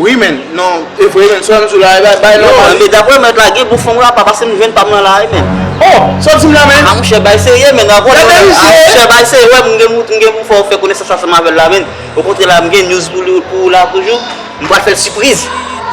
Wi men, non, e vre men, sòm sou la e bay bay nòmal. Yo, men daprè mèt la gen bouffon apa pase m jwenn pam nan la e men. Oh, sa w di m la men? A mouche bay serye men, nan vòlè w la, a mouche bay serye wè m gen m gen pou m fè w fè konesans ansanm avè l la men, okontrè la m gen news pou ou la toujou, m pral fè l sipriz.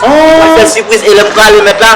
Oh! M pral fè l sipriz e lè m prale mèt la.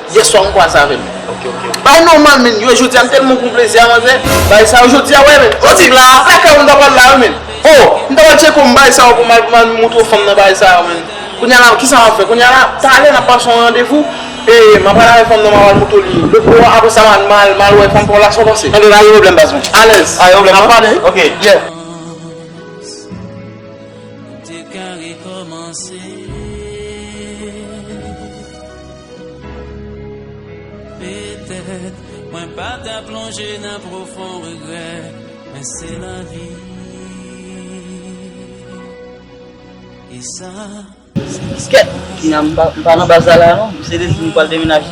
Yèswa m kwasa avèm Bay nòmal menn yo jodia m tèlman pran plezi a manzè Bay sa yo jodia wè menn Ou di sa kèw m ta pral la wi menn Oh m ta pral tcheko m bay sa yo pou m al moutre fanm nan bay sa yo menn Kounya la kisa map fè kounya la Talè nap pase yon randevou E map pral avè fanm nan map al moutre li Lòt bò a aprè sa m al wè fanm pa w la sa w panse Tande la gen pwoblèm baz mwen Alèz nap pale ok yeah. Petèt mwen pa ta plonje nan pwofon regrè, men se lavi e sa se Kèt! Tina m pa nan baz la la non, misye te di m li pral demenaje,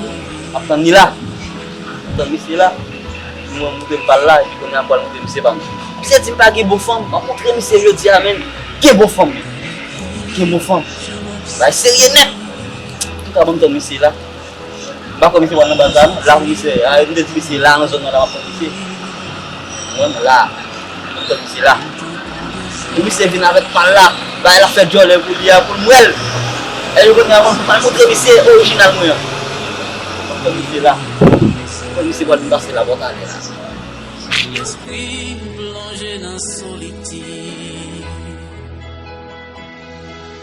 m ap tann li la. M ap tann misye la. Li di mwen moute m pral la epi kounye a m pral moute misye pa m. Misye di m pa gen bon fanm, m rankontre misye jodi a menn, gen bon fanm! Gen bon fanm! Bagay serye nèt! Ki ka banm ton misye la. M pa kwè misye pral nan baz la non. La pou misye ye. Epi m te di misye la nan zòn nan la map tann misye. Ou konprann? La. Ki banm ton misye la. Pou misye vin avèk pal la. Bagay lap fè djòlè pou li a pou m wè l. Epi kounye a m pral montre misye orijinal mwen an. Ki banm ton misye la. M kwè misye pral vin pase la bò talè la.